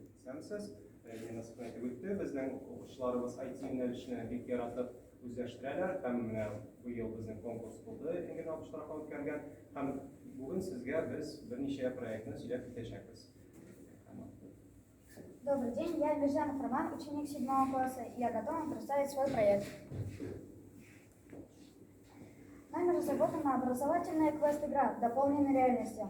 Исәнмесез. Рәзинә Насыйпова әйтеп үтте, безнең укучыларыбыз IT-юнәлешне бик яратып үзләштерәләр һәм менә быел безнең конкурс булды, Энгель Абыш тарафыннан үткәрелгән һәм бүген сезгә без берничә проектны сөйләп китәчәкбез. Добрый день, я Мирзянов Роман, ученик 7 класса, и я готов вам представить свой проект. Нами разработана образовательная квест-игра, дополненная реальностью.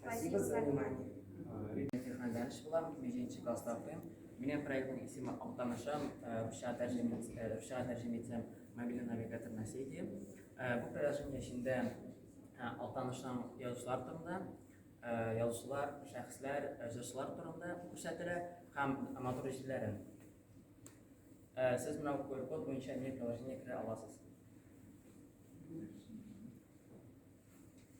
Спасибо за внимание. Технодәнш булам, бишенче класста укыйм. Минем проектның исеме Алтанышам, русча тәрҗемә русча тәрҗемә итсәм, мобильный навигатор на сети. Бу приложение эчендә Алтанышам язучылар турында, язучылар, шәхесләр, җырчылар турында күрсәтелә һәм матур җилләрен. Сез менә QR-код буенча мир приложение керә аласыз.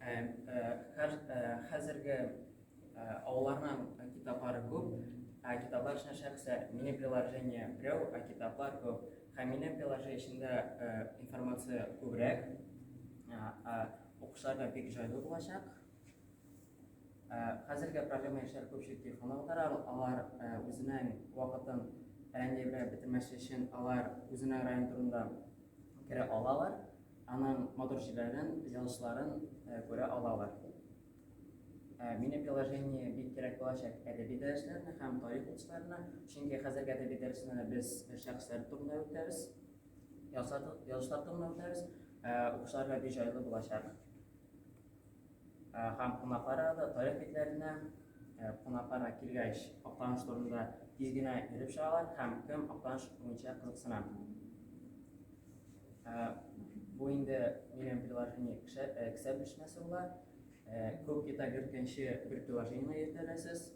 Ә, ә, хәр, ә, хәзерге ә, авылларның китаплары күп, ә китаплар эченә шәхсә мини приложение берәү, ә китаплар күп. Һәм мини приложение эчендә ә, информация күбрәк, укучыларга бик җайлы булачак. Хәзергә проблема яшьләр күпчелек телефонда утыра, алар үзенең вакытын әллә бетермәсе өчен алар үзенең район турында керә алалар. Аның матур җилләрен, җылышларын күрә алалар. Мини приложение бик кирәк булачак әдәби дәресләренә һәм тарих укытучыларына, чөнки хәзерге әдәби дәресендә без шәхесләр турында үтәбез, язышлар турында үтәбез, укучыларга бик җайлы булачак. Һәм кунаклары да тарих битләренә кунакларга килгәч, Актаныш турында тиз генә йөреп чыгалар һәм кем Актаныш буенча кызыксына. Бу инде минем приложение кесә белешмәсе була. Күп кита керткәнче бер приложениене йөртәләсез.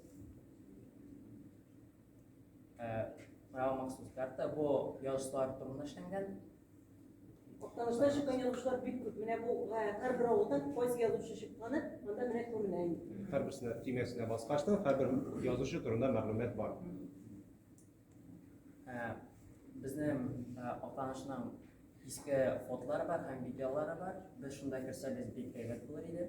Махсус карта бу язышлар турында эшләнгән. Актанышта чыккан язучылар бик күп. Менә бу һәрбер авылдан кайсы язучы чыкканы монда менә күренә инде. Һәрберсенә тимәсенә баскачтан һәрбер язучы турында мәгълүмат бар. Безнең Актанышның иске фотлары бар һәм видеолары бар. Без шунда керсәбез бик әйбәт булыр иде.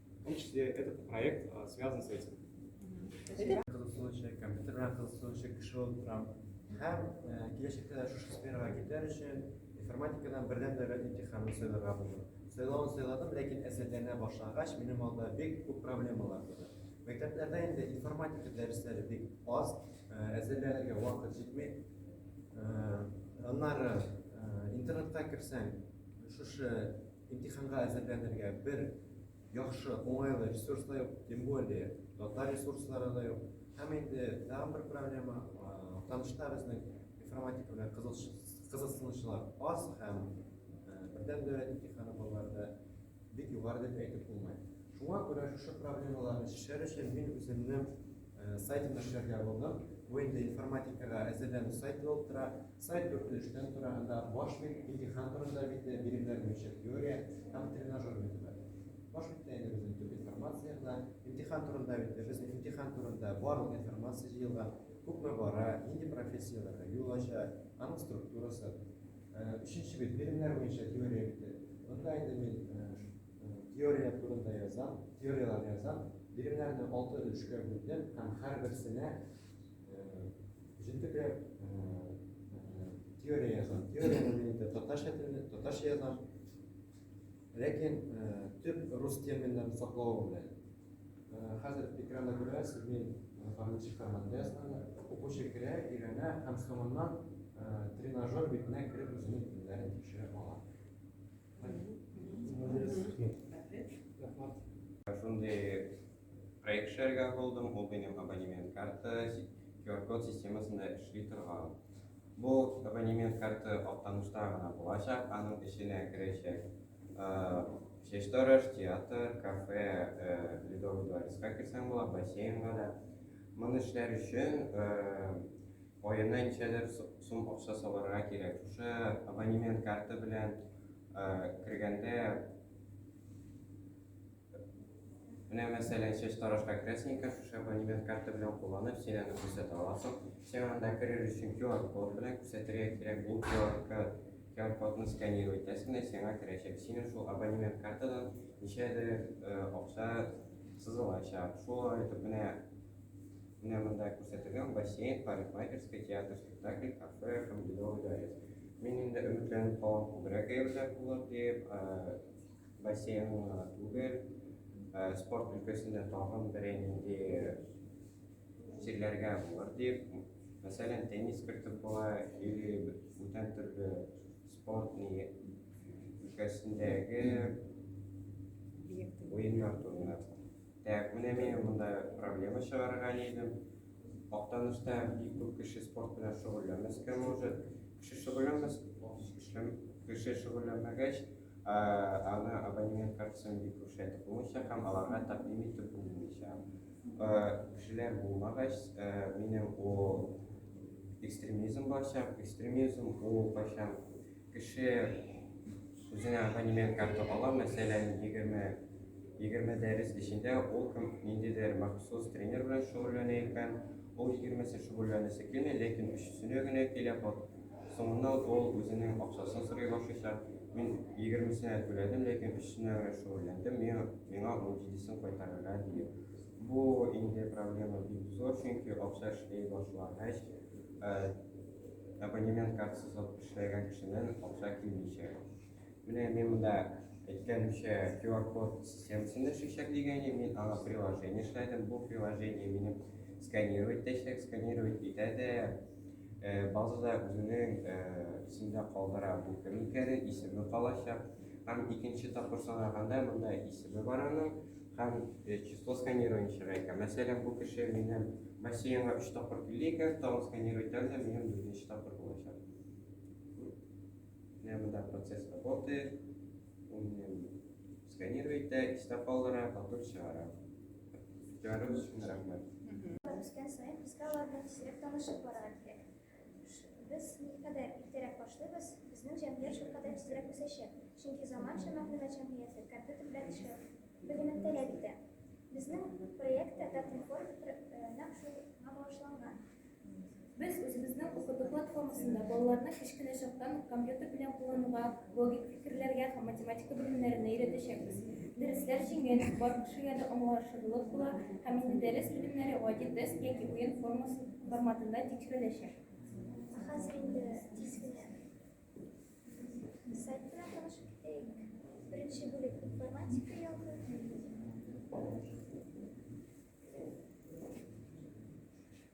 В том числе этот проект а, связан с этим. Кызыксынучы, компьютер белән кызыксынучы кеше булып торам. Һәм э, киләчәктә дә шушы сферага китәр өчен информатикадан бердәм дәүләт имтиханын сайларга булдым. Сайлавын сайладым, ләкин әзерләнә башлагач, минем алда бик күп проблемалар туды. Мәктәпләрдә инде информатика дәресләре бик аз, э, әзерләнергә вакыт җитми. Э, аннары интернетка керсәң, шушы Имтиханга әзерләнергә бер яхшы, уңайлы ресурс та юк, тем более татар ресурслары да юк. Һәм инде тагын бер проблема, танышта безнең информатика белән кызыксынучылар аз һәм бердәм дәүләт имтиханы балаларда бик югары дип әйтеп булмый. Шуңа күрә шушы проблемаларны чишәр өчен мин үземне Сайтны эшләргә булдык. Бу инде информатикага әзерләнү сайты булып тора. Сайт дүрт өлештән тора. Анда баш бит, имтихан турында бит, биремнәр буенча теория һәм тренажер бит бар. Баш биттә инде безнең төп информация гына. Имтихан турында бит, без имтихан турында барлык информация җыелган. Күпме бара, нинди профессияләргә юл ача, аның структурасы. Өченче бит, биремнәр буенча теория бите. Монда инде мин Теория турында язам, теорияләр язам. Биремнәрне алты өлешкә бүлдем һәм һәрберсенә җентекләп теория язам. Теорияне мин инде татарча телендә, татарча язам. Ләкин төп рус терминнарын саклау белән. Хәзер экранда күрәсез, мин формат форматында язганда укучы керә, өйрәнә һәм соңыннан тренажер битенә кереп үзенең телләрен тикшерә ала. Шундый проект эшләргә булдым, ул минем абонемент карта QR-код системасында эшли торган. Бу абонемент карты актанышта гына булачак, аның эченә керәчәк чәчтараш, театр, кафе, ледовый дворецка керсәң була, бассейнга да. Моны эшләр өчен Аена ничәдер сум акча салырга кирәк. Шушы абонемент карты белән кергәндә, менә мәсәлән, чәч тарашка керәсең икән, шушы абонемент карты белән кулланып, син аны күрсәтә аласың. Син анда керер өчен QR-код белән күрсәтергә кирәк. Ул QR-кодны сканировать итәсең дә, сиңа керәчәк. Синең шул абонемент картадан ничәдер акча сызылачак. Шулай итеп, менә Менә монда күрсәтелгән бассейн, парикмахерская, театр, спектакль, кафе һәм Ледовый дворец. Мин инде өметләнеп калам күбрәк әйберләр булыр дип, бассейн гына түгел, спорт өлкәсендә тагын берәй нинди серләргә булыр дип, мәсәлән, теннис кертеп була, или бүтән төрле спорт өлкәсендәге уеннар турында. Так, менә мин монда проблема чыгарырга нидем. Актанышта бик күп кеше спорт белән шөгыльләнмәскә может. Кеше шөгыльләнмәс, кеше шөгыльләнмәгәч, аны абонемент картасын бик күрсәтеп булмыйча һәм аларга тәкъдим итеп булмыйча. Кешеләр булмагач, минем ул экстремизм барчак, экстремизм ул кайчан Кеше үзенә абонемент карты ала, мәсәлән, 20-20 дәрес эчендә ул кем ниндидер махсус тренер белән шөгыльләнә икән, ул 20-се шөгыльләнәсе килми, ләкин өчесенә генә килә. Соңыннан ул үзенең акчасын сорый башлыйча, мин 20-сенә түләдем, ләкин өчесенә генә шөгыльләндем, миңа миңа 17-сен кайтарырга, ди. Бу инде проблема бик зур, чөнки акча эшли башлагач, абонемент картасы сатып эшләгән кешеннән акча килмичә. Менә мин монда әйткәнемчә QR-код системасын эшләячәк дигән идем, мин аңа приложение эшләдем. Бу приложение мине сканировать итәчәк, сканировать итә дә э, базада үзенең э, исемдә калдыра бу кем икәнен, исеме калачак. Һәм икенче тапкыр санаганда монда исеме бар аның, Һәм э, число сканированиечага икән. Мәсәлән, бу кеше минем бассейнга өч тапкыр килде икән, тагын сканировать итәм дә, минем дүртенче тапкыр булачак. Менә монда процесс работает. Ул минем сканировать итә, истә калдыра, потом чыгара. Игътибарыгыз өчен рәхмәт. Үскән саен безгә алар белән сирәк танышып барырга кирәк. Без никадәр иртәрәк башлыйбыз, безнең җәмгыять шулкадәр тизрәк үсәчәк, чөнки заманча мәгълүмат җәмгыяте компьютер белән эшләү белемен таләп итә. Безнең проект та Татинформ нәкъ шуңа багышланган. Без үзебезнең укыту платформасында балаларны кечкенә чактан ук компьютер белән куллануга Логик фикерләргә һәм математика белемнәренә өйрәтәчәкбез. Дәресләр җиңел, бар кешегә дә аңлашырлык була һәм инде дәрес белемнәре гади тест яки уен формасы форматында тикшереләчәк. Хәзер инде тиз генә сайт белән танышып китәйек. Беренче бүлек информатика ягы.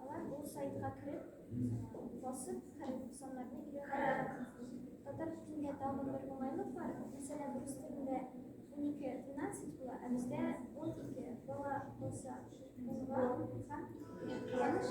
Алар бу сайтка кереп, басып, хәреф саннарны өйрәнә алалар. Татар телендә тагын бер уңайлык бар. Мәсәлән, рус телендә 12 12 була, ә бездә 12 бала булса, булга һәм кызганыч